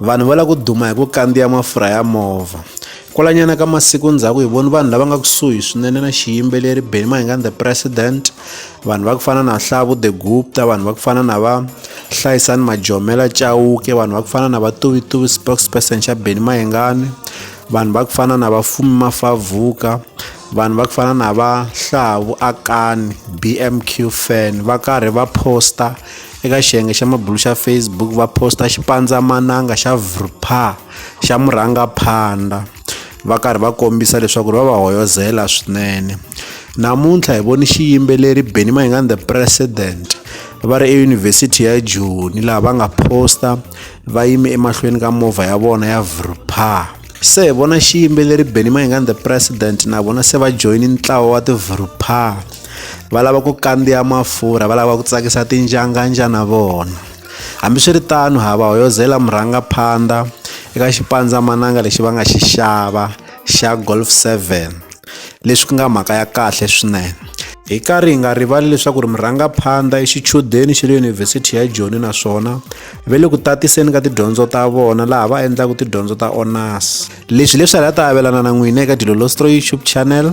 Vanhu va lava ku duma hi ku kandziya mafurha ya movha. Kwalanyana ka masiku ndzhaku hi voni vanhu lava nga kusuhi swinene na xiyimbeleri Benny Mahingani the President, vanhu va ku fana na Hlavu the Gupta, vanhu va ku fana na va Hlayisani Majomela Chauke, vanhu va ku fana na va Tuvituvi spokesperson xa Benny Mahingani, vanhu va ku fana na va Fumi Mafavuka, vanhu va ku fana na va Hlavu Akani BMQ fan va karhi va posta Eka xiyenge xa mabulu xa Facebook va posta xipandzamananga xa Vrpa xa murhangaphandha va karhi va kombisa leswaku ri va va hoyozela swinene. Namuntlha hi voni xiyimbeleri Benny Mayengani the President va ri eyunivhesiti ya Joni laha va nga posta va yime emahlweni ka movha ya vona ya Vrpa. Se hi vona xiyimbeleri Benny Mayengani the President na vona se va joyine ntlawa wa ti-Vrpa. va lava ku kandziya mafurha va lava ku tsakisa tinjanganja na vona hambiswiritano ha va hoyozela murhangaphandha eka xipandzamananga lexi va nga xi xava xa golf 7 leswi ku nga mhaka ya kahle swinene hi karhi hi nga rivali leswaku ri murhangaphandha i xichudeni xa le yunivhesiti ya joni naswona ve le ku tatiseni ka tidyondzo ta vona laha va endlaka tidyondzo ta onas leswi leswi hala ta avelana na n'wina eka dilolostro youtube channel